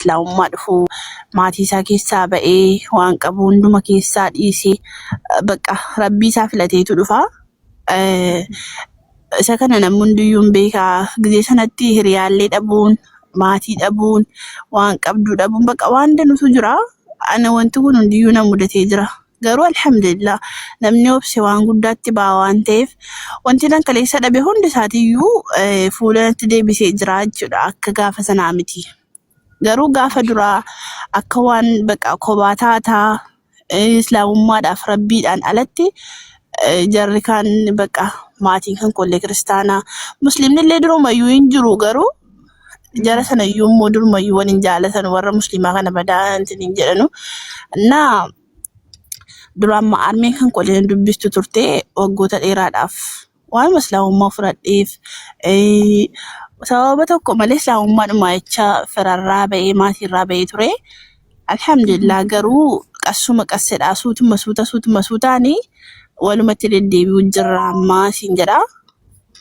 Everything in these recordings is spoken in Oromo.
Islaamummaa dhufu maatii isaa keessaa ba'ee waan qabu hunduma keessaa dhiisee bakka rabbii isaa filateetu dhufa. Isa kana namni hundiyyuu hin beeka. Gizee sanatti hiriyaallee dhabuun, maatii dhabuun, waan qabduu dhabuun bakka waan danuutu jira. Ana wanti kun hundiyyuu na mudatee jira. Garuu alhamdulillah namni obse waan guddaatti ba'a waan ta'eef wanti nan kaleessa dhabe hundi isaatiiyyuu fuula natti deebisee jira jechuudha akka gaafa sanaa miti. Garuu gaafa duraa akka waan baqa kobaa taataa eh, islaamummaadhaaf rabbiidhaan alatti eh, jarri kaan baqa maatiin kan kollee kiristaanaa musliimni illee durumayyuu hin jiru garuu jara sana iyyuu immoo durumayyuu wal hin jaalatan warra musliimaa kana badaa ittiin hin jedhanu. Naa duraan ma- armeen kan kolleen dubbistu turte waggoota dheeraadhaaf. waanuma islaamummaa fudhadheef sababa tokko malee islaamummaadhuma jecha firarraa ba'ee maatiirraa ba'ee ture. Alhamdulillah garuu qassuma qassedhaa suutuma suuta suutuma suutaani walumatti deddeebi'u jirra ammaa siin jedha.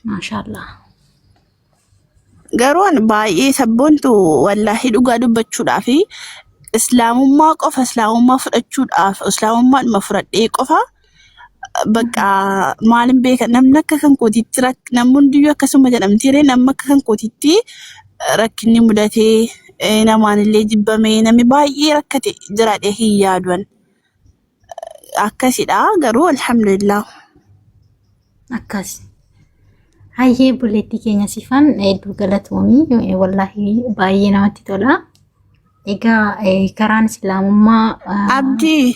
Maashaallah. Garuu ani baay'ee sabboontu wallaahi dhugaa dubbachuudhaa fi islaamummaa qofa islaamummaa fudhachuudhaaf islaamummaadhuma fudhadhee qofa bakka maalin beeka namni akka kan kootiitti rak- namni hundiyyuu akkasuma jedhamti ree namni akka kan kootiitti eh, rakkinni mudatee eh, namaanillee jibbamee namni baay'ee rakkate jiraadhee hin yaaduan. akkasidha garuu alhamdulillah. Akkas. Hayyee obboleettii keenya sifan hedduu galatoomii wallaahi baay'ee namatti tola. Egaa eh, karaan islaamummaa ah, Abdii.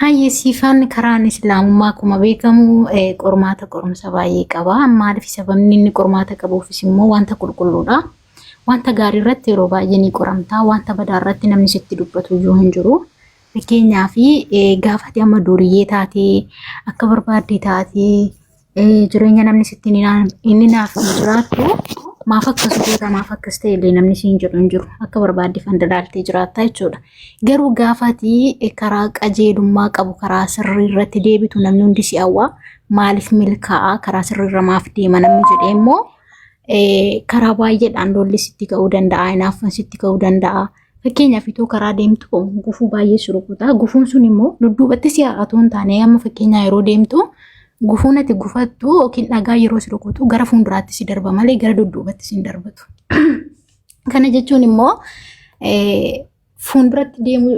Hayyee siifaan karaan islaamummaa akkuma beekamu eh, qormaata qorumsa baay'ee qaba. Maaliif sababni inni qormaata qabuufis immoo wanta qulqulluudha. Wanta gaarii irratti yeroo baay'ee ni qoramta. Wanta badaa irratti namni sitti dubbatu iyyuu hin jiru. Fakkeenyaaf eh, gaafati amma duuriyyee taatee akka barbaadde taatee jireenya namni sitti inni naaf hin jiraattu maaf akkas goota maaf akkas ta'e illee namni siin jedhu hin jiru akka barbaadde fandadaaltee jiraatta jechuudha. Garuu gaafatii karaa qajeelummaa qabu karaa sirrii irratti deebitu namni hundi si hawwa maaliif milkaa'a karaa sirrii irra maaf deema namni jedhee immoo karaa baay'eedhaan lolli sitti ka'uu danda'a hinaafan sitti ka'uu danda'a. Fakkeenyaaf itoo karaa deemtu gufuu baay'ee si rukuta. Gufuun sun immoo dudduubatti si haa'atu hin taane amma fakkeenyaa yeroo deemtu gufuun ati gufattu yookiin dhagaa yeroo si rukutu gara fuulduraatti si darba malee gara dudduubatti si hin darbatu. Kana jechuun immoo fuulduratti deemu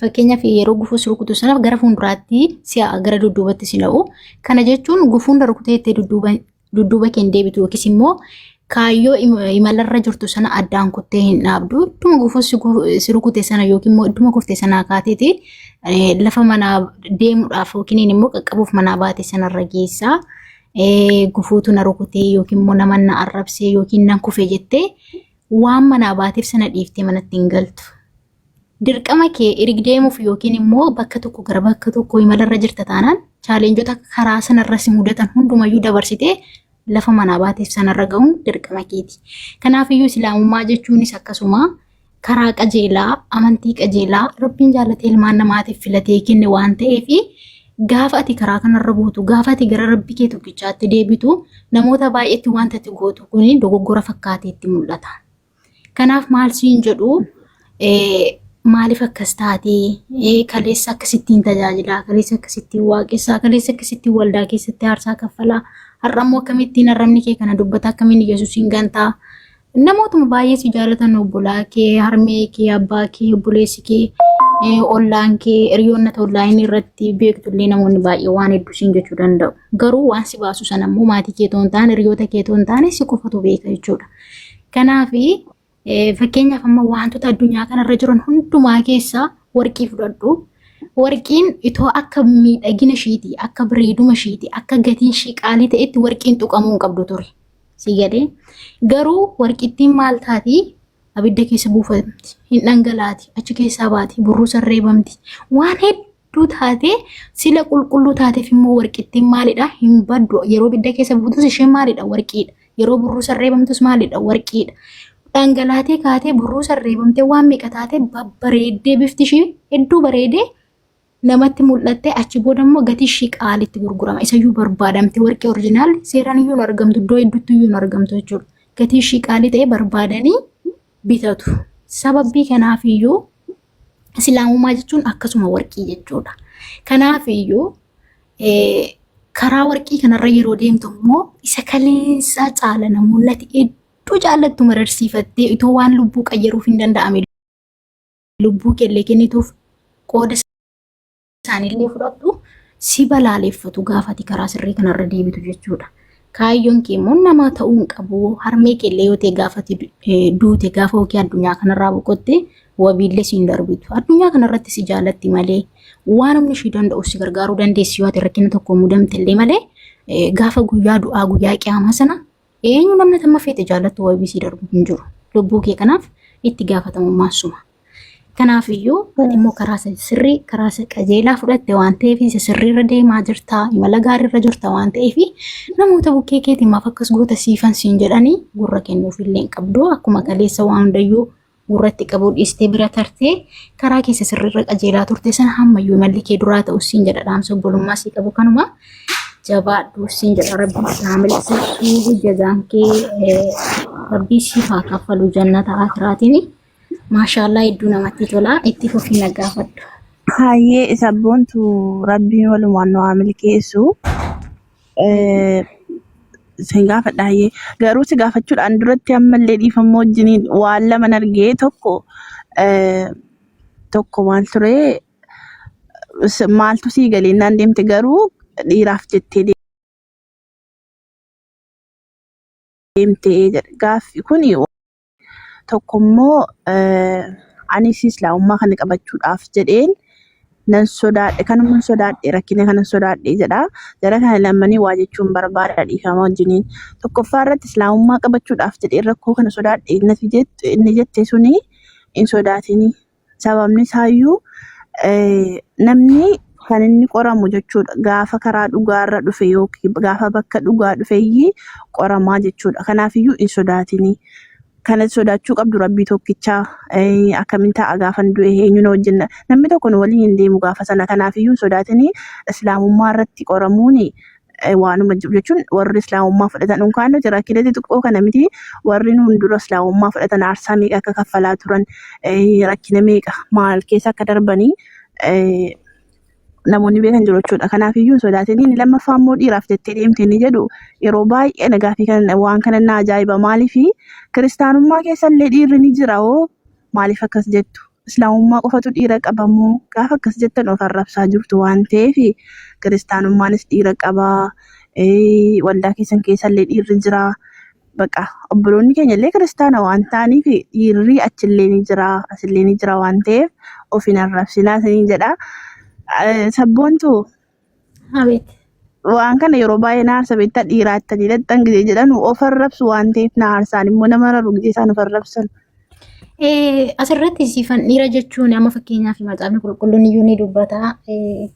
fakkeenyaaf yeroo gufuu si rukutu sanaaf gara fuulduraatti si'a gara dudduubatti si na'u. Kana jechuun gufuun na rukutee itti dudduuba dudduuba kee hin deebitu yookiis immoo kaayyoo imalarra jirtu sana addaan kuttee hin dhaabdu. Idduma gufuu si rukute sana yookiin immoo idduma kurte sanaa kaateeti lafa manaa deemuudhaaf yookiin immoo qaqqabuuf manaa baate sanarra geessa. Gufuutu na rukutee yookiin immoo nama na arrabsee yookiin nan kufe jettee waan manaa baateef sana dhiiftee manatti hin galtu. Dirqama kee irig deemuuf yookiin immoo bakka tokko gara bakka tokko imalarra jirta taanaan chaaleenjota karaa sanarra si mudatan hundumayyuu dabarsitee lafa manaa baateef sanarra ga'uun dirqama keeti. Kanaafiyyuu islaamummaa jechuunis akkasuma karaa qajeelaa, amantii qajeelaa rabbiin jaalatee ilmaan namaatiif filatee kenne waan ta'eef gaafa ati karaa kanarra buutu, gaafa ati gara rabbi kee tokkichaatti deebitu namoota baay'eetti wanta ati gootu kun dogoggora fakkaatee itti mul'ata. Kanaaf maal siin jedhu maaliif akkas taatee kaleessa akkasittiin tajaajilaa kaleessa akkasittiin waaqessaa kaleessa akkasittiin waldaa keessatti aarsaa kaffalaa har'a immoo akkamittiin arrabni kee kana dubbata akkamiin yesuusiin gantaa namootuma baay'ee si jaalatan obbolaa kee harmee kee abbaa kee obboleessi kee ollaan kee hiriyoonna onlaayinii irratti beektullee namoonni baay'ee waan hedduu siin jechuu danda'u garuu waan si baasu sana immoo maatii kee toon taane hiriyoota kee toon taane si qofatu beeka jechuudha. Kanaaf fakkeenyaaf amma wantoota addunyaa kanarra jiran hundumaa keessaa warqii fudhadhu. Warqiin itoo akka miidhagina ishiiti, akka bareeduma ishiiti, akka gatiin ishii qaalii ta'etti warqiin tuqamuu hin qabdu ture. Sii galee garuu warqittiin maal taati? Abidda keessa buufamti, hin dhangalaati, achi keessaa baati, burruusa reebamti. Waan hedduu taatee sila qulqulluu taateef immoo warqittiin maalidha hin baddu yeroo bidda keessa buutus isheen maalidha warqiidha yeroo burruusa reebamtus maalidha warqiidha dhangalaatee kaatee burruusa reebamtee waan meeqa taatee babbareeddee bifti ishii hedduu bareedee namatti mul'attee achi booda immoo gatii ishii qaalitti gurgurama isayyuu barbaadamte warqii orjinaal seeraan iyyuu hin argamtu iddoo hedduutti iyyuu hin argamtu jechuudha gatii ishii qaalii ta'ee barbaadanii bitatu. Sababbii kanaaf iyyuu islaamummaa jechuun akkasuma warqii jechuudha. Kanaaf iyyuu karaa warqii kanarra yeroo deemtu immoo isa kaleessaa caala namoonni ati hedduu jaallattu mararsiifattee itoo waan lubbuu qayyaruuf hin danda'ame lubbuu kellee kennituuf qooda isaaniillee fudhadhu si balaaleffatu gaafati karaa sirrii kanarra deebitu jechuudha. Kaayyoon kee immoo namaa ta'uu hin qabu. Harmee keellee yoo ta'e gaafati duute gaafa hojii addunyaa kanarraa boqotte wabiillee si hin darbitu. Addunyaa kanarratti si jaalatti malee waan humni ishii danda'u si gargaaruu dandeessi yoo ati rakkina tokko mudamte illee malee gaafa guyyaa du'aa guyyaa qiyaamaa sana Eenyu namni tamma feete jaallattu wabii sii darbu hin jiru. Lubbuu kee kanaaf itti gaafatamummaa suma. Kanaaf iyyuu ati immoo karaa isa sirrii karaa isa qajeelaa fudhatte waan ta'eef isa sirrii irra deemaa jirta imala gaarii irra jirta waan ta'eef namoota bukkee keetiin maaf akkas goota siifan siin jedhanii gurra kennuuf illee hin qabdu akkuma kaleessa waan hundayyuu gurratti qabuu dhiistee bira tartee karaa keessa sirriirra qajeelaa turte sana hammayyuu malli kee duraa ta'u siin jedha dhaamsa obbolummaa sii qabu kanuma jabaadhu siin jedha rabbiin si haa mil'isuu jazaan kee rabbii siif haa kaffalu jannata akiraatiin maashaallaa hedduu namatti tola itti fufii na gaafadhu. Hayyee sabboontu rabbiin walumaan nu haa milkeessu. Eh, Sin gaafadha hayyee. Garuu si gaafachuudhaan duratti ammallee dhiifammoo wajjiniin waan laman argee tokko eh, tokko maal ture s- maaltu sii galee naan deemte garuu dhiiraaf jettee deemte jedhe. Gaaffi kuni Tokko immoo anis islaamummaa kana qabachuudhaaf jedheen nan sodaadhe kanuma hin sodaadhe rakkina kana hin sodaadhe jedha. Jara kana lammanii waa jechuun barbaada dhiifama wajjiniin. Tokkoffaa irratti islaamummaa qabachuudhaaf jedheen rakkoo kana sodaadhe nati jette inni jette suni hin sodaatinii. Sababni isaayyuu namni kan inni qoramu jechuudha. Gaafa karaa dhugaarra dhufe yookiin gaafa bakka dhugaa dhufeyyii qoramaa jechuudha. Kanaafiyyuu hin sodaatinii. Kana sodaachuu qabdu rabbii tokkichaa. Eh, Akkamiin ta'a gaafan du'e eenyu na wajjin na- namni tokko nu waliin hin deemu gaafa sana. Kanaafiyyuu hin sodaatinii. Islaamummaa irratti qoramuuni eh, waanuma jiru jechuun warri islaamummaa fudhatan unkaan nuti rakkinatti xiqqoo kana miti warri nuun dura islaamummaa fudhatan aarsaa meeqa akka kaffalaa turan eh, rakkina meeqa maal keessa akka darbanii eh, namoonni beekan jiru jechuudha. Kanaaf iyyuu hin sodaatin inni lammaffaa immoo dhiiraaf jettee deemte inni jedhu yeroo baay'ee nagaa fi kan waan kana na ajaa'iba maaliif kiristaanummaa keessa illee dhiirri ni jira hoo maaliif akkas jettu? Islaamummaa qofatu dhiira qaba moo? Gaafa akkas jettan of arrabsaa jirtu waan ta'eef kiristaanummaanis dhiira qaba. Ee, Waldaa keessan keessallee dhiirri jira. Baqa obboloonni keenyallee kiristaana waan ta'aniif dhiirri achillee ni jira, asillee ni jira waan ta'eef of hin arrabsinaa isiniin jedha. Eh, Sabboontu Abeet. Waan kana yeroo baay'ee na aarsa beektaa dhiiraa ittanii dhaqxan gidee jedhan of arrabsu waan ta'eef na aarsaan immoo nama rarru gidee isaan of arrabsan. Eh, Asirratti siifan dhiira jechuun amma fakkeenyaaf macaafni qulqulluun iyyuu ni dubbata. Eh,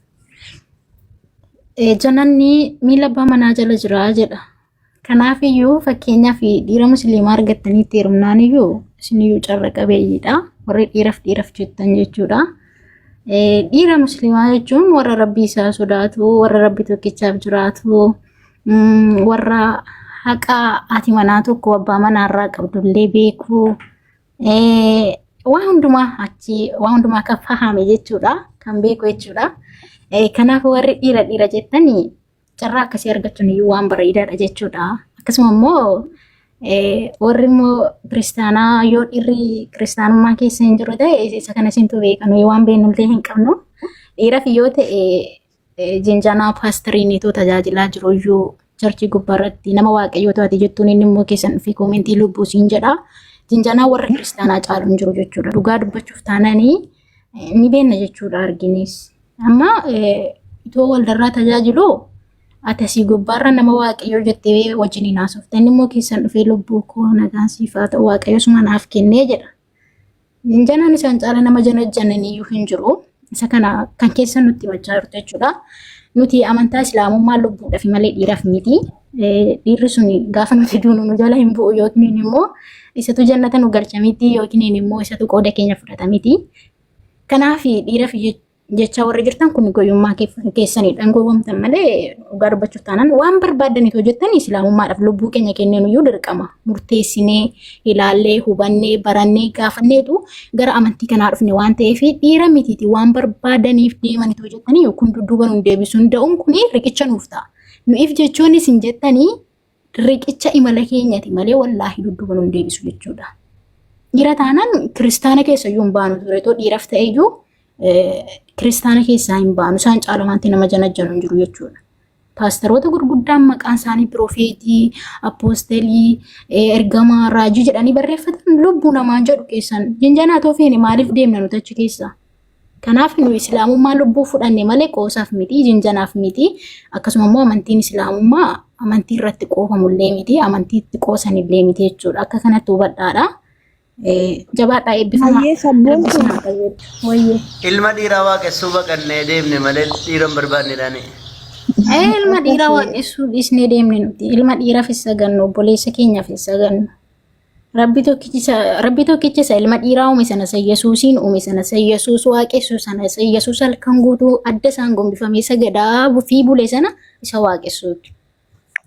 eh, Jannanni miila abbaa manaa jala jira jedha. Kanaafiyyuu fakkeenyaaf dhiira musliimaa argattaniitti heerumnaan iyyuu isiniyyuu carra qabeeyyiidha. Warri dhiiraf dhiiraf jettan jechuudha. Dhiira musliimaa jechuun warra rabbii isaa sodaatu, warra rabbi tokkichaaf jiraatu, warra haqa haati manaa tokko abbaa manaa irraa qabdullee beeku. Waan hundumaa achi waan hundumaa kan fahame jechuudha. Kan beeku jechuudha. Kanaaf warri dhiira dhiira jettanii Carraa akkasii argachuun iyyuu waan bareedaadha jechuudha. Akkasuma immoo eh, warri immoo kiristaanaa yoo dhiirri kiristaanummaa keessa hin jiru ta'e isa kana isintu beeka nuyi waan beeknullee hin qabnu. Dhiiraaf yoo ta'e eh, jinjanaa paastariiniitu tajaajilaa jiru iyyuu charchii gubbaarratti nama waaqayyoo taate jettuun inni immoo keessan dhufee koomentii lubbuu siin jedha. Jinjanaa warra kiristaanaa caalu hin jiru jechuudha. Dhugaa dubbachuuf taananii ni beekna jechuudha arginis. Amma itoo waldarraa tajaajilu ati asii gubbaarra nama waaqayyoo jettee wajjin hin haasofte inni immoo keessan dhufee lubbuu koo nagaan siif haa ta'u waaqayyo suma naaf kennee jedha. Janaan isaan caala nama janajjanan iyyuu hin jiru. Isa kana kan keessa nutti himachaa jirtu jechuudha. Nuti amantaa islaamummaa lubbuudhaaf malee dhiiraaf miti. dhiirri sun gaafa nuti duunu nu jala hin bu'u yookiin immoo isatu jannata nu galcha miti yookiin immoo isatu qooda keenya fudhata miti. Kanaaf dhiiraaf jecha warri jirtan kun goyummaa keessaniidhaan gowwamtan malee dhugaa dubbachuuf taanaan waan barbaadan itoo jettan islaamummaadhaaf lubbuu keenya kenneen iyyuu dirqama murteessinee ilaallee hubannee barannee gaafanneetu gara amantii kanaa dhufne waan ta'eef dhiira mitiiti waan barbaadaniif deeman itoo jettanii kun dudduuba nu deebisuu hin da'uun kun riqicha nuuf ta'a. Nu if jechuun isin jettanii riqicha imala keenyati malee wallaahi dudduuba nu hin deebisu jechuudha. Dhiira taanaan kiristaana keessa iyyuu hin baanu ture too dhiiraf ta'e iyyuu kiristaana keessaa hin baanu isaan caala wanti nama janajjanu hin jiru jechuudha. Paastaroota gurguddaan maqaan isaanii pirofeetii, appoostelii, ergamaa, raajii jedhanii barreeffatan lubbuu namaa jedhu keessan jinjanaa too feene maaliif deemna nuti achi keessaa? Kanaaf nu islaamummaa lubbuu fudhanne malee qoosaaf miti, jinjanaaf miti. Akkasuma immoo amantiin islaamummaa amantii irratti qoofamullee miti, amantii itti qoosanillee miti jechuudha. Akka kanatti hubadhaadha. Jabaadhaa eebbifamaa. Hayyee sabboon kun Wayyee. Ilma dhiiraa waaqessuu baqannee deemne malee dhiira hin barbaanne dhaani. Ee, Ilma dhiiraa waaqessuu dhiisnee deemne nuti. Ilma dhiiraaf hin sagannu, obboleessa keenyaaf hin sagannu. Rabbi tokkichi isa- Rabbi tokkichi isa ilma dhiiraa uume sana isa Yesuusiin uume sana isa Yesuus waaqessu sana isa Yesuus halkan guutuu adda isaan gombifamee sagadaa fi bule sana isa waaqessuuti.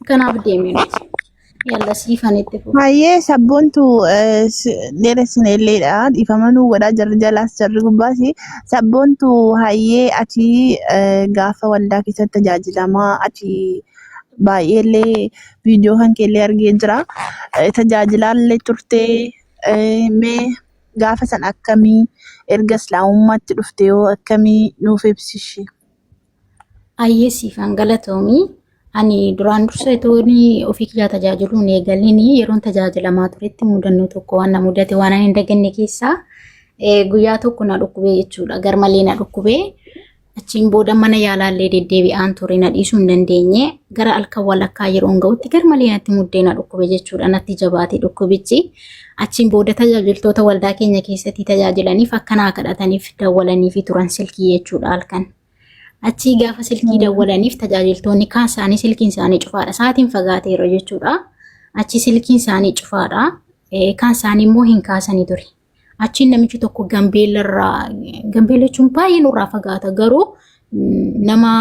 Kanaaf deemee nuti. Yalla siifan itti fufu. Hayyee sabboontu dheeressine illeedha. Dhiifama nuu godhaa jarri jalaas jarri gubbaas. Sabboontu hayyee ati eh, gaafa waldaa keessatti tajaajilamaa ati baay'eellee viidiyoo kan keellee argee jira. Eh, Tajaajilaallee turtee eh, mee gaafa san akkamii erga islaamummaatti dhufte yoo akkamii nuuf ibsishi. Ayyee siifan galatoomii. Ani duraan dursa itoon ofii kiyyaa tajaajiluun eegaleen yeroon tajaajilamaa turetti mudannoo tokko waan na mudate waan ani hin daganne keessaa eh, guyyaa tokko na dhukkubee jechuudha. Garmalee na dhukkubee. Achiin booda mana yaalaallee deddeebi'aan ture na dhiisuu hin dandeenye gara halkan walakkaa yeroon ga'utti garmalee natti muddee na dhukkube jechuudha natti jabaate dhukkubichi. Achiin booda tajaajiltoota waldaa keenya keessatti tajaajilaniif akka naa kadhataniif dawwalaniifi turan silkii jechuudha halkan. Achii gaafa silkii dawwalaniif tajaajiltoonni kaan isaanii silkiin isaanii cufaadha. Sa'aatiin fagaateera jechuudha. Achii silkiin isaanii cufaadha. Kaan isaanii immoo hin kaasanii ture. Achiin namichi tokko gambeellarraa gambeella jechuun baay'ee nurraa fagaata garuu nama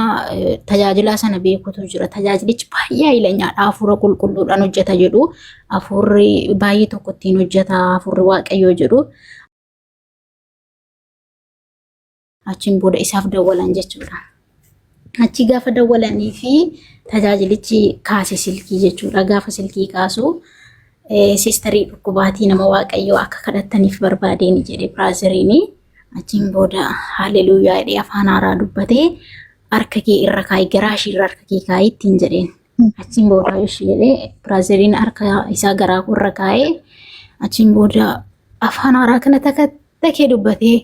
tajaajilaa sana beekutu jira. Tajaajilichi baay'ee ayilanyaadha. Hafuura qulqulluudhaan hojjeta jedhu. Hafuurri baay'ee tokko ittiin hojjeta. Hafuurri waaqayyoo jedhu. Achiin booda isaaf dawwalan jechuudha. Achi gaafa dawwalanii fi tajaajilichi kaase silkii jechuudha. Gaafa silkii kaasu siistarii dhukkubaatii nama waaqayyoo akka kadhattaniif barbaadeen jedhe biraaziriin. Achiin booda haaleluyyaa jedhee afaan haaraa dubbatee harka kee irra kaa'i garaa ishee irra harka kee kaa'i ittiin jedheen. Achiin booda ishii jedhee biraaziliin harka isaa garaa irra kaa'ee achiin booda afaan haaraa kana takka takkee dubbatee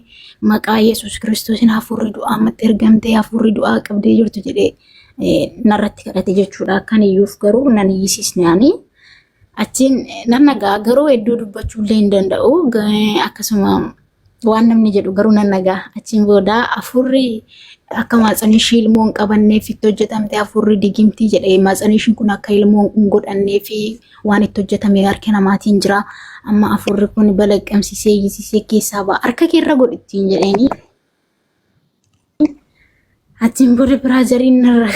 maqaa Yesuus Kiristoosiin hafuurri du'aa ammatti ergamtee hafuurri du'aa qabdee jirtu jedhee narratti kadhate jechuudha. Akkan iyyuuf garuu nan iyyisiisnaani. Achiin nan nagaa garuu hedduu dubbachuu illee hin danda'u akkasuma waan namni jedhu garuu nan nagaa achiin booda afurri akka maatsanii ishii ilmoo hin qabanneef itti hojjetamte afurri digimtii jedhe maatsanii ishiin kun akka ilmoo hin godhannee fi waan itti hojjetame harka namaatiin jira amma afurri kun balaqqamsiisee iyyisiisee keessaa ba'a harka keerra godhittiin jedheeni achiin booda biraa jariin narra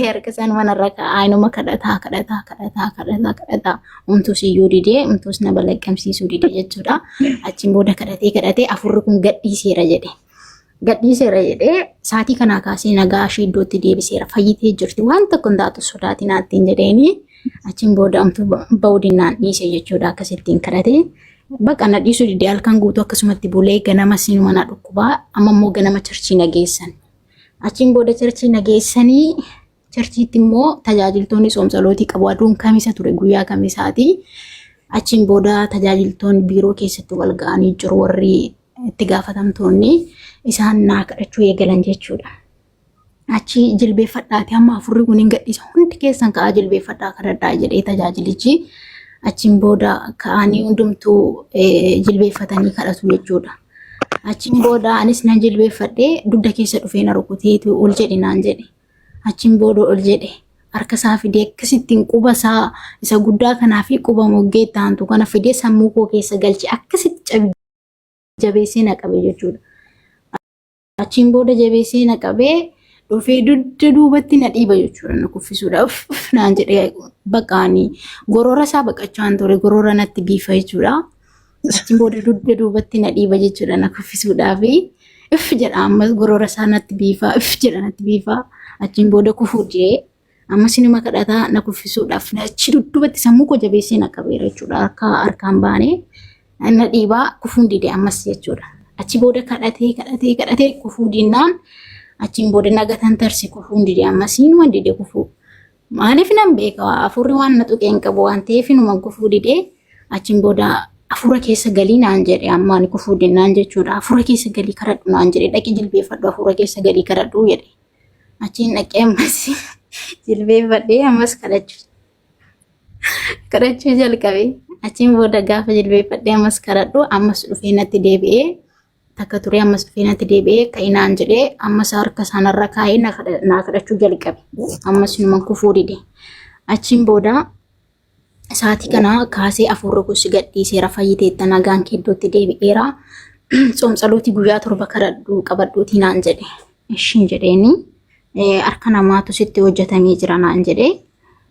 Erga isaan mana irra kaa'aa inuma kadhataa kadhataa kadhataa kadhataa kadhataa umtuus iyyuu didee umtuus na balaqqamsiisuu didee jechuudha. Achiin booda kadhatee kadhatee afurri kun gadhiiseera jedhe. Gadhiiseera jedhee saatii kanaa kaasee nagaa ishee iddootti deebiseera fayyitee jirti waan tokko hin taatu sodaatiin haattiin jedheeni achiin booda umtuu ba'uudinnaan dhiise jechuudha akkasittiin kadhatee. Baqa na dhiisuu didee halkan guutuu akkasumatti bulee ganama sinuma na dhukkubaa amma immoo ganama charchii na geessan. Achiin booda charchii na geessanii charchiitti immoo tajaajiltoonni soomsalootii qabu. Aduun kamisa ture guyyaa kamisaati. Achiin booda tajaajiltoonni biiroo keessatti wal ga'anii jiru warri itti gaafatamtoonni isaan naa kadhachuu eegalan jechuudha. Achi jilbeeffadhaati amma afurri kun hin gadhiisa hundi keessan ka'aa jilbeeffadhaa kadhadhaa jedhee tajaajilichi achiin booda ka'anii hundumtuu jilbeeffatanii kadhatu jechuudha. Achiin booda anis nan jilbeeffadhee dugda keessa dhufee na rukuteetu ol jedhe naan jedhe. Achiin booda ol jedhe harka isaa fidee akkasittiin quba isaa isa guddaa kanaa fi quba moggee itti aantu kana fidee sammuu koo keessa galche akkasitti jabeessee na qabe jechuudha. Achiin booda jabeessee na qabee dhufee dugda duubatti na dhiiba jechuudha na kuffisuudhaaf naan jedhee baqaanii gorora isaa baqachaan ture gorora natti biifa jechuudha. Achiin booda dugda duubatti na dhiiba jechuudha na kuffisuudhaaf if jedha ammas gorora isaa natti biifa if jedha natti biifa achiin booda kufuu jee Ammas inuma kadhataa na kuffisuudhaaf na achi dudduubatti sammuu koo jabeessee na qabeera jechuudha. Harka harkaan baanee na dhiibaa kufuun dide ammas jechuudha. Achi booda kadhatee kadhatee kadhatee kufuu dinnaan achiin booda na gatan tarse kufuun dide ammas inuma dide kufuu. Maaliif nan beeka hafuurri waan na tuqee hin qabu waan ta'eef inuma kufuu dide achiin booda hafuura keessa galii naan jedhe amma ani kufuu dinnaan jechuudha. Hafuura keessa galii kadhadhu naan jedhe dhaqi jilbeeffadhu hafuura keessa galii kadhadhu jedhe. Achiin dhaqee ammas jilbeeffadhee ammas kadhachuu kadhachuu jalqabe. Achiin booda gaafa jilbeeffadhee ammas kadhadhu ammas dhufee natti deebi'ee takka turee ammas dhufee natti deebi'ee ka'inaan jedhee ammas harka isaanirra kaa'ee na kadha- naa kadhachuu jalqabe. Ammas numan kufuu dide. Achiin booda Sa'aatii kana kaasee afuurri gosi gadhiiseera fayyiteetta nagaan keeddootti deebi'eera. Tsoomtsalootii guyyaa torba kadhadhu qabadhuutii naan jedhe. Ishiin jedheeni harka namaatu sitti hojjetamee jira naan jedhe.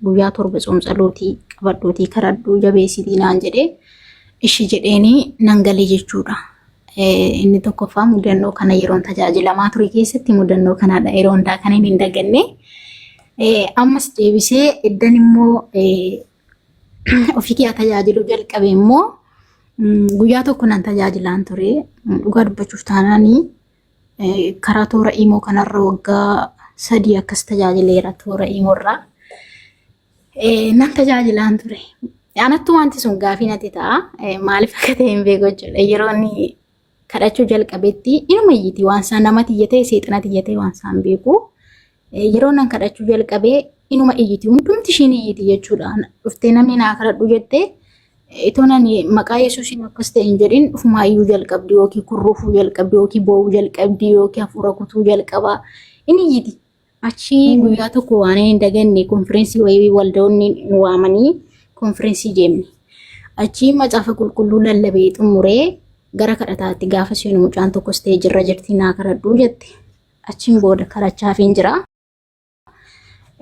Guyyaa torba tsoomtsalootii qabadhuutii kadhadhu jabeessitii naan jedhe. Ishii jedheeni nan galee jechuudha. Inni tokkoffaa mudannoo kana yeroon tajaajilamaa ture keessatti mudannoo kanaadha yeroo hundaa kan hin daganne. Ammas deebisee iddan immoo ofii kiyyaa tajaajiluu jalqabe immoo guyyaa tokko nan tajaajilaan ture. Dhugaa dubbachuuf taanaan karaa toora imoo kanarra waggaa sadii akkas tajaajileera toora imoorraa. nan tajaajilaan ture. Anattu wanti sun gaafii natti ta'a. Maaliif akka ta'e hin beeku jechuudha. Yeroo inni kadhachuu jalqabetti inuma iyyiti waan isaa namatti iyyatee seexanatti iyyatee waan isaa hin beeku. Yeroo nan kadhachuu jalqabee inuma iyyiti hundumti ishiin iyyiti jechuudha. Dhuftee namni naa kadhadhu jettee itoo nan maqaa yesuusiin akkas ta'e hin jedhin ofumaa iyyuu jalqabdi yookiin kurruufuu jalqabdi yookiin boo'uu jalqabdi yookiin hafuura kutuu jalqaba inni iyyiti. Achi guyyaa tokko waan hin daganne konfireensii wayii waldoonni nu waamanii konfireensii deemne. Achi macaafa qulqulluu lallabee xumuree gara kadhataatti gaafa seenu mucaan tokko isteejii irra jirti naa kadhadhuu jette. Achiin booda kadhachaafiin jira.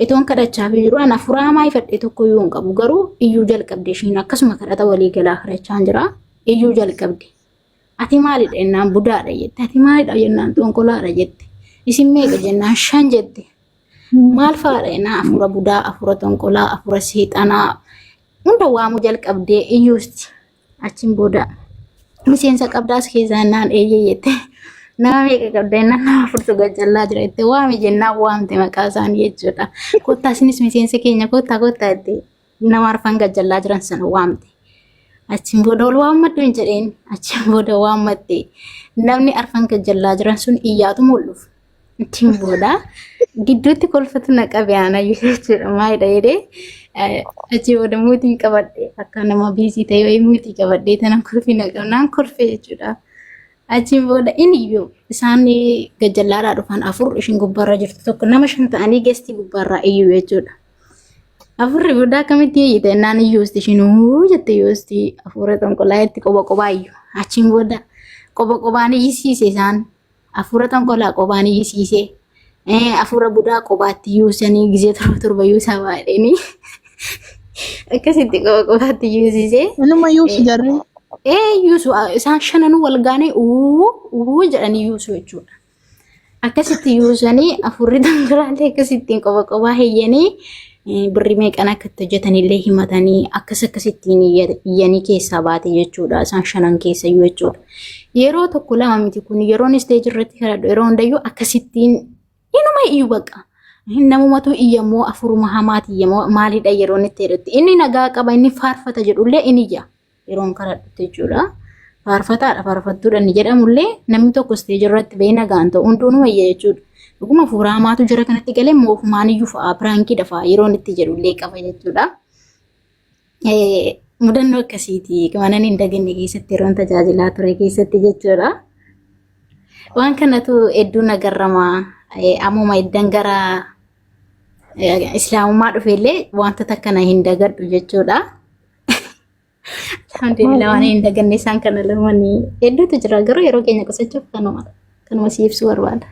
Itoon kadhachaafii jiru an afuraa hamaa ifadhe tokko yoo hin qabu garuu iyyuu jalqabde ishiin akkasuma kadhata walii galaa kadhachaan jira. Iyyuu jalqabde. Ati maalidha jennaan budaadha jette. Ati maalidha jennaan xonqolaadha jette. Isin meeqa jennaan shan jette. Maal fa'aadha jennaan afuura budaa, afuura xonqolaa, afuura seexanaa hunda waamuu jalqabdee iyyuusti. Achiin booda miseensa qabdaas keessaa jennaan eeyyee jette. Nama meeqa qabda jennaan nama furtu gajjallaa jira jette. Waami jennaan waamte maqaa isaanii jechuudha. Kottaa isinis miseensa keenya kottaa kottaa jette. nama arfan gajjallaa jiran sana waamte. Achiin booda wal waammadhu hin jedheen. Achiin booda waammatte. Namni arfan gajjallaa jiran sun iyyaatu mul'uf. Achiin booda gidduutti kolfatu na qabe aanayyuu jechuudha. Maalidha jedhee achii booda muutii qabadhe akka nama biizii ta'e wayii muutii qabadhe tanan kolfii na qabnaan kolfee jechuudha. Achiin booda inni iyyuu isaan gajjallaadhaa dhufan afur ishin gubbaarra jirtu tokko nama shan ta'anii geestii gubbaarraa iyyuu jechuudha. Afurri booda akkamitti hiyyite ennaan iyyuu isti shinuu jette yoo isti afuura xonqolaa itti qoba qobaa iyyu. Achiin booda qoba qobaan iyyisiise isaan afuura xonqolaa qobaan iyyisiise. Eh, Afuura budaa qobaatti iyyuu sanii gizee torba torba iyyuu isaa baadheenii akkasitti qoba qobaatti iyyisiise. Inuma yuusu jarri. Ee yuusu isaan shananuu wal gaanee uu uu jedhanii yuusu jechuudha. Akkasitti yuusanii afurri dhangalaalee akkasittiin qoba qobaa heyyanii birri meeqan akka itti hojjetanillee himatanii akkas akkasittiin iyyanii keessaa baate jechuudha. Isaan shanan keessa iyyuu jechuudha. Yeroo tokko lama miti kun yeroon isteeji irratti kadhadhu yeroo hundayyuu akkasittiin inuma iyyuu baqa. Namumatu iyyamoo afuruma hamaati iyyamoo maalidha yeroon itti jedhutti inni nagaa qaba inni faarfata jedhullee in iyya. yeroon kadhadhutti jechuudha. Faarfataadha faarfattuudha inni jedhamullee namni tokko isteejii irratti ba'ee nagaan ta'u hunduu nu wayya jechuudha. Dhuguma hafuura hamaatu jira kanatti galee moofumaan iyyuu fa'aa piraankiidha fa'aa yeroon itti jedhullee qaba jechuudha. Mudannoo akkasiiti kanan hin daganne keessatti yeroon tajaajilaa ture keessatti jechuudha. Waan kanatu hedduu nagarrama ammuma iddan gara islaamummaa dhufeellee wantoota kana hin dagadhu jechuudha. Alhamdulillah waan hin daganne isaan kana lamanii hedduutu jira garuu yeroo keenya qusachuuf kanuma kanuma si ibsuu barbaada.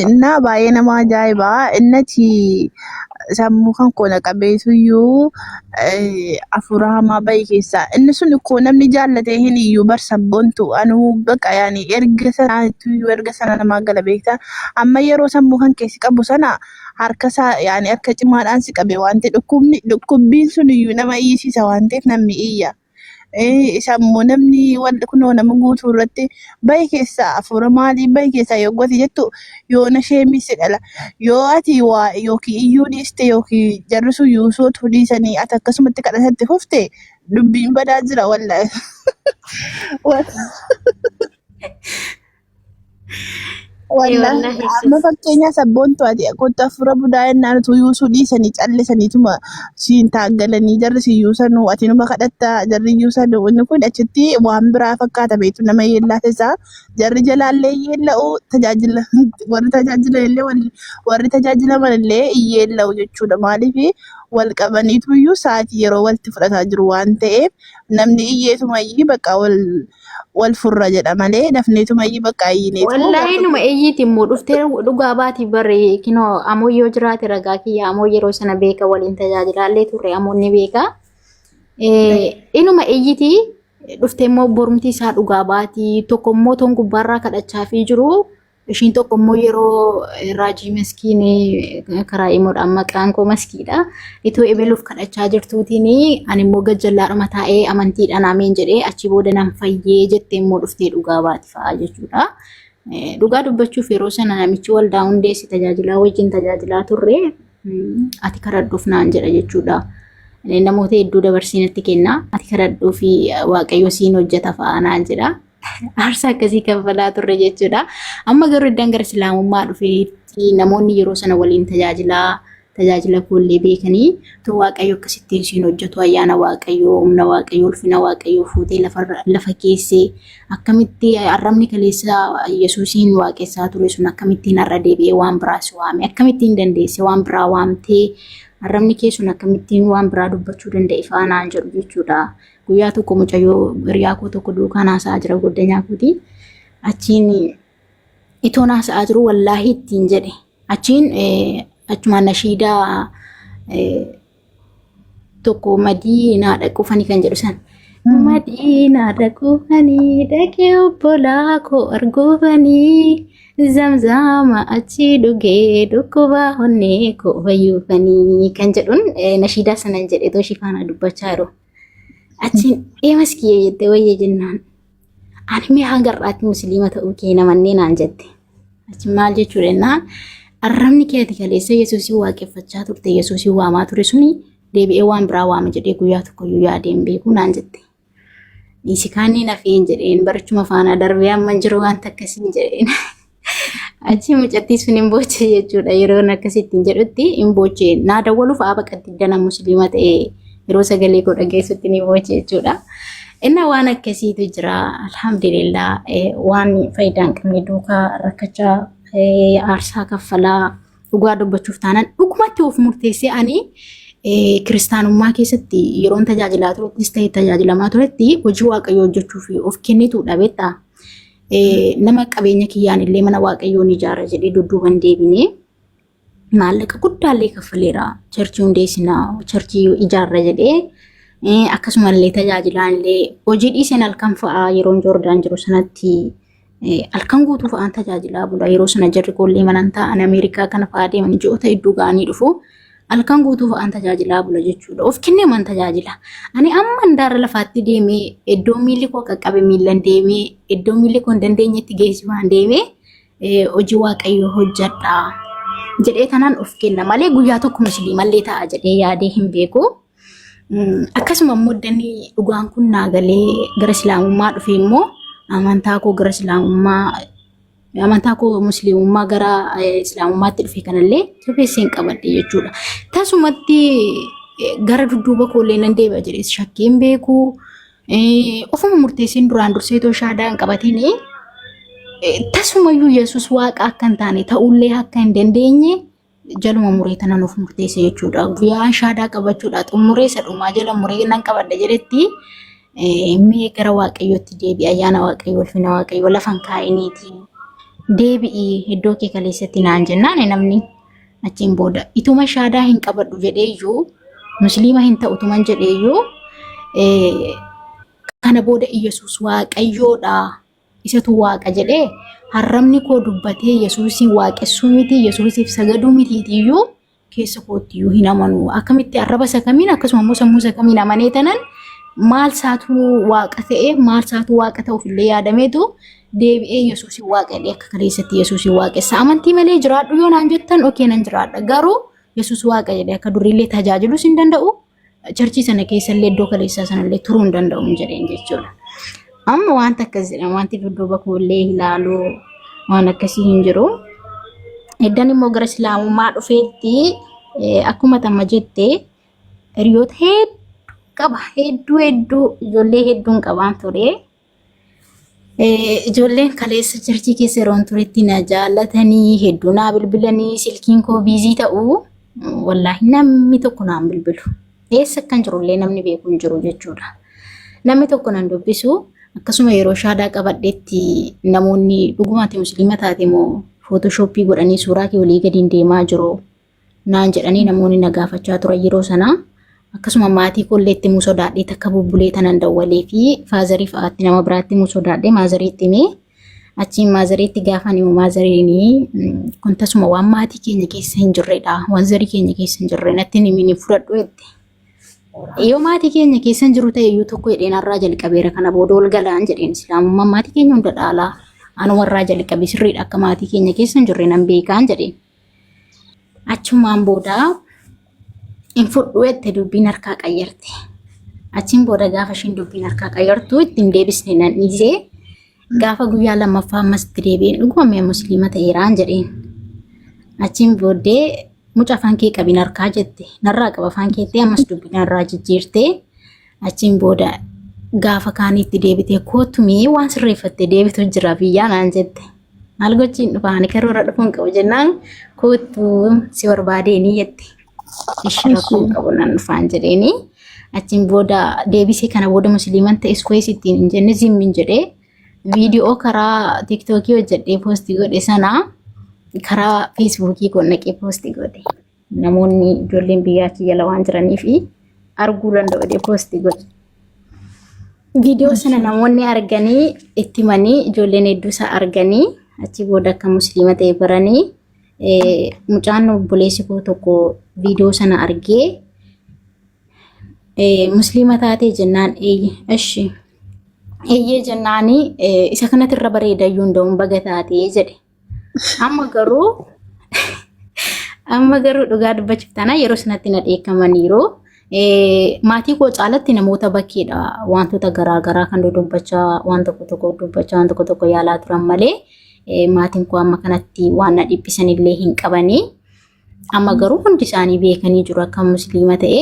Innaa baay'ee nama ajaa'iba. Innati sammuu kan koona qabeetuyyuu afuura hamaa bahi keessaa. Inni sun koo namni jaallatee hin iyyuu bar sabboontu anuu baqa yaani erga sanaa iyyuu erga sana namaa gala beektaa. Amma yeroo sammuu kan keessi qabu sana harkasaa yaani harka cimaadhaan si qabe waan ta'e dhukkubni dhukkubbiin sun iyyuu nama iyyisiisa waan ta'eef namni iyya. Eh, Isa immoo namni wal- kunoo nama guutuu irratti bahi keessaa hafuura maalii bahi keessaa yoo gote jettu yoo na sheemisse dhala. Yoo ati waa yookiin iyyuu dhiiste yookiin jarri sun yuusootu dhiisanii ati akkasumatti kadhatatti fufte dubbiin badaa jira wallaahi. Wal- Wallaahi amma fakkeenyaa sabboontu ati kottu afuura budaa jennaan utuu yuusuu dhiisanii callisaniituma siin taaggalanii jarri siin yuusanuu ati numa kadhatta jarri yuusanuu inni kun achitti waan biraa fakkaata beektu nama yeellaa keessaa jarri jalaallee yeella'u tajaajila warri tajaajila illee wal- warri tajaajilaman illee hin yeella'u jechuudha maaliif wal qabaniitu iyyuu sa'aatii yeroo walitti fudhataa jiru waan ta'eef namni iyyeetumayyii bakka wal wal furra jedha malee dafneetuma iyyii bakka ayyineetu Wallaahi numa iyyiiti immoo dhuftee dhugaa baati barri kinoo amoo yoo jiraate ragaa kiyya amoo yeroo sana beeka waliin tajaajilaallee turre amoon ni beeka. Eh, Inuma iyyiti dhuftee immoo borumti isaa dhugaa baati tokko immoo toon gubbaarraa kadhachaa fi jiru Ishiin tokko immoo yeroo raajii maskiin karaa imoodhaan maqaan koo maskiidha. Itoo ebeluuf kadhachaa jirtuutiin ani immoo gajjallaadhuma taa'ee amantiidhaan ameen jedhee achi booda nan fayyee jettee immoo dhuftee dhugaa baati fa'aa jechuudha. Dhugaa dubbachuuf yeroo sana namichi waldaa hundeessi tajaajilaa wajjin tajaajilaa turre ati kadhadhuuf naan jedha jechuudha. Namoota hedduu dabarsinatti kenna ati kadhadhuuf waaqayyo siin hojjeta fa'aa naan jedha. aarsaa akkasii kanfalaa turre jechuudha. Amma garuu iddaan gara islaamummaa dhufeetti namoonni yeroo sana waliin tajaajilaa tajaajila koollee beekanii too waaqayyo akkasitti isheen hojjetu ayyaana waaqayyoo humna waaqayyoo ulfina waaqayyoo fuutee lafa keessee akkamitti arrabni kaleessa yesuusiin waaqessaa ture sun akkamittiin har'a deebi'ee waan biraas waame akkamittiin dandeesse waan biraa waamtee arrabni kee sun akkamittiin waan biraa dubbachuu danda'e faanaan jedhu jechuudha. Guyyaa tokko mucayyoo hiriyaa koo tokko duukaan haasa'aa jira goddanyaa kooti. Achiin itoon haasa'aa jiru wallaahi ittiin jedhe. Achiin achumaan nashiidaa tokko madii naa dhaquufani kan jedhu san. Madii naa dhaquufani dhaqee obbolaa koo arguufani zamzama achi dhugee dhukkubaa onnee koo fayyuufani kan jedhuun nashiidaa sanan jedhe too shifaanaa dubbachaa yeroo. Achiin eemas kiyya jette wayya jennaan. Ani mee hanga har'aatti musliima ta'uu kee namannee naan jette. Achi maal jechuu jennaan arrabni kee ati kaleessa Yesuusii waaqeffachaa turte Yesuusii waamaa ture suni deebi'ee waan biraa waama jedhee guyyaa tokkoyyuu yaadee hin beeku naan jette. Dhiisi kaanneen hafeen jedheen barichuma faanaa darbee amma hin jiru waan takka siin jedheen. Achii mucattii sun hin boochee jechuudha. Yeroon akkasitti hin jedhutti hin boochee. Naa dawwaluuf aaba qaddana musliima ta'e yeroo sagalee koo dhageessutti ni boochee jechuudha. Innaa waan akkasiitu jira. Alhamdulillah waan faayidaa hin qabne duukaa rakkachaa aarsaa kaffalaa dhugaa dubbachuuf taanaan dhugumatti of murteessee ani kiristaanummaa keessatti yeroon tajaajilaa turettis ta'e tajaajilamaa turetti hojii waaqayyoo hojjechuuf of kennitu dhabeetta. nama qabeenya kiyyaan illee mana waaqayyoo ni ijaara jedhee dudduuban deebinee maallaqa guddaallee kaffaleera. Charchii hundeessinaa, charchii ijaarra jedhee akkasumallee tajaajilaan illee hojii dhiiseen halkan fa'aa yeroo Joordaan jiru sanatti halkan guutuu fa'aan tajaajilaa bula. Yeroo sana jarri koollee manan ta'an Ameerikaa kana fa'aa deeman ji'oota hedduu ga'anii dhufu. Halkan guutuu fa'aan tajaajilaa bula jechuudha. Of kennee man tajaajila. Ani amma handaara lafaatti deemee iddoo miilli koo qaqqabe miillan deemee iddoo miilli koo hin dandeenyetti geessifaan deemee eh, hojii waaqayyoo hojjedha. Jedhee tanaan of kenna malee guyyaa tokko musliimallee ta'a jedhee yaadee hin beeku. Mm, Akkasuma immoo danni dhugaan kun naa galee gara islaamummaa dhufee immoo amantaa koo gara islaamummaa amantaa koo musliimummaa gara eh, islaamummaatti dhufe kanallee jabeesseen qabadhe jechuudha. Tasumatti eh, gara dudduuba koollee nan deebi'a jedhees shakkii hin beeku. Eh, Ofuma murteessiin duraan dursee too shaadaa hin qabatiin tasumayyuu Yesuus waaqa akka hin taane ta'ullee akka hin dandeenye jaluma muree tana nuuf murteesse jechuudha. Guyyaan shaadaa qabachuudha. Xumuree isa dhumaa jala muree nan qabadha jedhetti mee gara waaqayyootti deebi'i ayyaana waaqayyoo ulfina waaqayyoo lafan kaa'iniiti. Deebi'i iddoo kee kaleessatti naan jennaan namni achiin booda ituma shaadaa hin qabadhu jedheeyyuu musliima hin ta'u tuman jedheeyyuu kana booda Iyyasuus waaqayyoodha Isatu waaqa jedhee harrabni koo dubbatee Yesuusii waaqessuu miti Yesuusiif sagaduu mitiitiyyuu keessa koottiyyuu hin amanu. Akkamitti arraba isa kamiin akkasuma immoo sammuu isa kamiin amanee tanan maal isaatu waaqa ta'e maal isaatu waaqa ta'uuf illee yaadameetu deebi'ee Yesuusii waaqa jedhee akka kaleessatti Yesuusii waaqessa. Amantii malee jiraadhu yoo naan jettan okee nan jiraadha garuu Yesuus waaqa jedhee akka duriillee tajaajiluus hin danda'u. charchii sana keessallee iddoo kaleessaa sanallee turuu hin danda'u hin jedheen jechuudha. Amma wanta akkas jedhan wanti dudduuba koollee ilaalu waan akkasii hin jiru. Eddan immoo gara islaamummaa dhufeetti eh, akkuma tamma jette hiriyoota hedduu qaba hedduu hedduu ijoollee hedduun qabaan ture Ijoolleen kaleessa jarjii keessa yeroon turetti na jaallatanii hedduu naa bilbilanii silkiin koo biizii ta'u wallaahi namni tokko naan bilbilu. Eessa akkan jirullee namni beeku hin jiru jechuudha. Namni tokko nan dubbisu akkasuma yeroo shaadaa qabadhetti namoonni dhugumaati musliima taate moo footooshooppii godhanii suuraa kee olii gadiin deemaa jiru naan jedhanii namoonni na gaafachaa turan yeroo sanaa. Akkasuma maatii koollee itti himuu sodaadhee takka bubbulee tanan dawwalee fi faazarii fa'aatti nama biraatti himuu sodaadhee maazariitti himee achiin maazariitti gaafan himu maazariin kun tasuma waan maatii keenya keessa hin jirredha waan zarii keenya keessa hin jirre natti hin himin fudhadhu jette. Yoo maatii keenya keessa hin jiru ta'e iyyuu tokko hidheen har'aa jalqabeera kana booda ol galaan jedheen islaamummaan maatii keenya hunda dhaalaa anumarraa jalqabe sirriidha akka maatii keenya keessa hin jirre nan beekaan jedheen. Achumaan booda hin fudhu jette dubbiin harkaa qayyarte. Achiin booda gaafa ishiin dubbiin harkaa qayyartu ittiin deebisne nan dhiisee gaafa guyyaa lammaffaa ammas itti deebi'een dhugoomee musliima ta'eeraan jedheen. Achiin booddee muca afaan kee qabin harkaa jette narraa qaba afaan keettee ammas dubbii narraa jijjiirtee Achiin booda gaafa kaaniitti deebitee kootu mee waan sirreeffattee deebitu jira biyyaa naan jette. Maal gochiin dhufa ani karoora dhufuun qabu jennaan kootu si barbaadee ni jette. Ishii rakkoon qabu nan dhufaan jedheeni. Achiin booda deebisee kana booda musliiman ta'e iskuwees ittiin hin jenne zimmin jedhee viidiyoo karaa tiiktookii hojjedhee poostii godhe sana karaa feesbuukii koo naqee poostii godhe. Namoonni ijoolleen biyya achi jala waan jiraniif arguu danda'u jedhee poosti godhe. Viidiyoo sana namoonni arganii itti himanii ijoolleen hedduu isaa arganii achi booda akka musliima ta'e baranii eh, mucaan obboleessi koo tokko viidiyoo sana argee eh, musliima taatee jennaan eeyye ashi eeyyee jennaanii eh, isa kanatti irra bareeda iyyuu hin da'uun baga taatee jedhe. Amma garuu amma garuu dhugaa dubbachuuf taana yeroo sanatti na dheekkamaniiru. Maatii koo caalatti namoota bakkeedha wantoota garaagaraa kan dudubbachaa waan tokko tokko dubbachaa waan tokko tokko yaalaa turan malee maatiin koo amma kanatti waan na dhiphisan illee hin qabani. Amma garuu hundi isaanii beekanii jiru akka musliima ta'e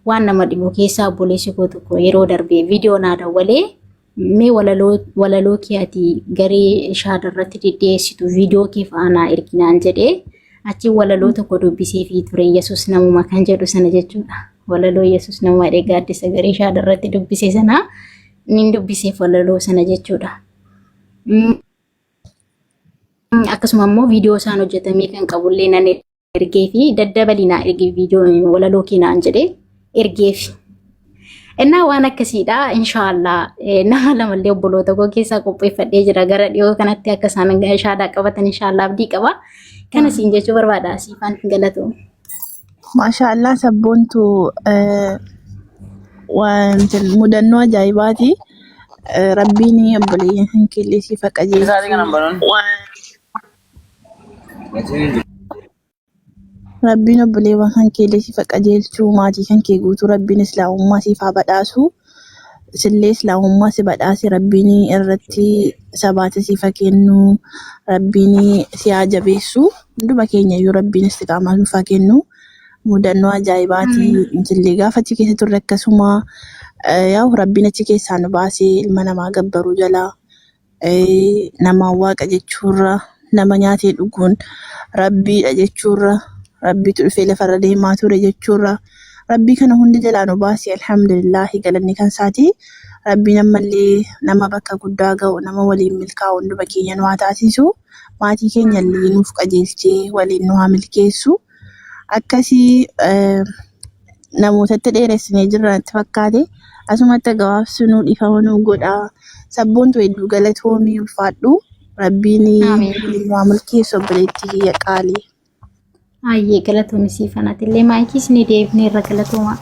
waan nama dhibu keessaa obboleessi koo tokko yeroo darbee viidiyoo naa dawwalee Mee walaloo walaloo kee ati garee shaada irratti deddeessitu viidiyoo kee fa'aa naa ergi naan jedhee achi walaloo tokko dubbisee fi ture Yesuus namuma kan jedhu sana jechuudha. Walaloo Yesuus namuma jedhee gaaddisa garee shaada irratti dubbise sana nin dubbiseef walaloo sana jechuudha. Mm, Akkasuma immoo viidiyoo isaan hojjetamee kan qabullee nan ergeefi daddabali naa ergi viidiyoo walaloo kee naan jedhee ergeefi. Innaa waan akkasiidha inshaallah nama lamallee obboloota koo keessaa qopheeffadhee jira gara dhiyoo kanatti akka isaan shaadaa qabatan inshaallah abdii qaba. Kana siin jechuu barbaada siifan galatoo. Maashaallah sabboontu wanti mudannoo ajaa'ibaati. Rabbiin obboleeyyan keellee siif haa qajeelchu. Rabbiin obboleewwan kan keellee siif haa qajeelchuu maatii kan kee guutuu rabbiin islaamummaa siif haa badhaasuu sillee islaamummaa si badhaase rabbiin irratti sabaata siif haa kennu rabbiin si haa jabeessu hunduma keenya iyyuu rabbiin istiqaamaa nuuf haa kennu mudannoo ajaa'ibaatii sillee gaafa achi keessa turre akkasuma eh, yaa'u rabbiin achi keessaa nu baasee ilma namaa gabbaruu jalaa nama waaqa jechuurra nama nyaatee dhuguun rabbiidha jechuurra rabbiitu dhufee lafarra deemaa ture jechuurra rabbii kana hunda jalaa nu baase alhamdulillaahi galanni kan isaati rabbiin ammallee nama bakka guddaa ga'u nama waliin milkaa'u hunduma keenya nu haa taasisu maatii keenya illee nuuf qajeelchee waliin nu haa milkeessu akkasii eh, namootatti dheeressinee jirra natti fakkaate. Asumatti gabaabsinuu dhiifama nuu godhaa. Sabboontu hedduu galatoomii ulfaadhu. Rabbiin Aamiin. waliin waa milkeessu obboleettii kiyya qaalii. Ayyee galatoomi sii fanatillee maayikii isinii deebinee irra galatoomaa.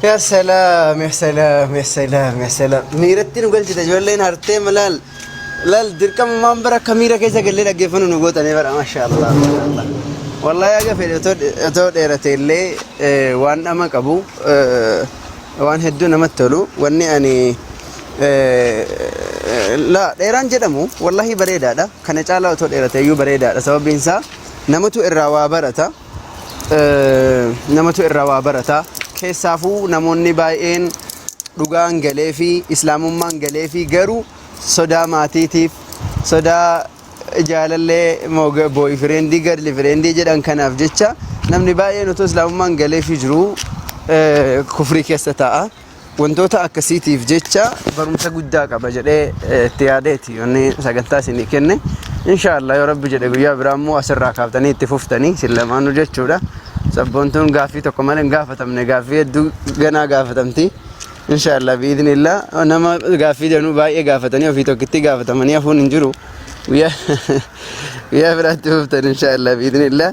Ya salaam, ya salaam, ya salaam, ya salaam. Miiratti nu galchite ijoolleen hartee malaal. Lal dirqamumaan bara akka miira keessa gallee dhaggeeffannu nu gootanii bara mashaallah mashaallah. Wallahi haga fedhe otoo otoo dheerate illee eh, waan dhama qabu eh, waan hedduu namatti tolu wanni ani eh, la dheeraan jedhamu wallahi bareedaadha kana caalaa otoo dheerate iyyuu bareedaadha sababiin isaa namatu irraa waa barata. namatu irraa waa barata keessaafuu namoonni baay'een dhugaan galee fi islaamummaan galee fi garuu sodaa maatiitiif sodaa jaalallee booyi fireendii gadli fireendii jedhan kanaaf jecha namni baay'een otoo islaamummaan galee fi jiru kufrii keessa ta'a. Wantoota akkasiitiif jecha barumsa guddaa qaba jedhee eh, itti yaadeeti inni sagantaa isinii kenne. Inshaallah yoo rabbi jedhe guyyaa biraa immoo asirraa kaaftanii itti fuftanii isin lamaanuu jechuudha. Sabboontuun gaaffii tokko malee hin gaafatamne gaaffii hedduu ganaa gaafatamti. Inshaallah biidnillah nama gaaffii danuu baay'ee gaafatanii ofii tokkittii gaafatamanii hafuun hin jiru. Guyyaa guyyaa biraatti fuftan inshaallah biidnillah.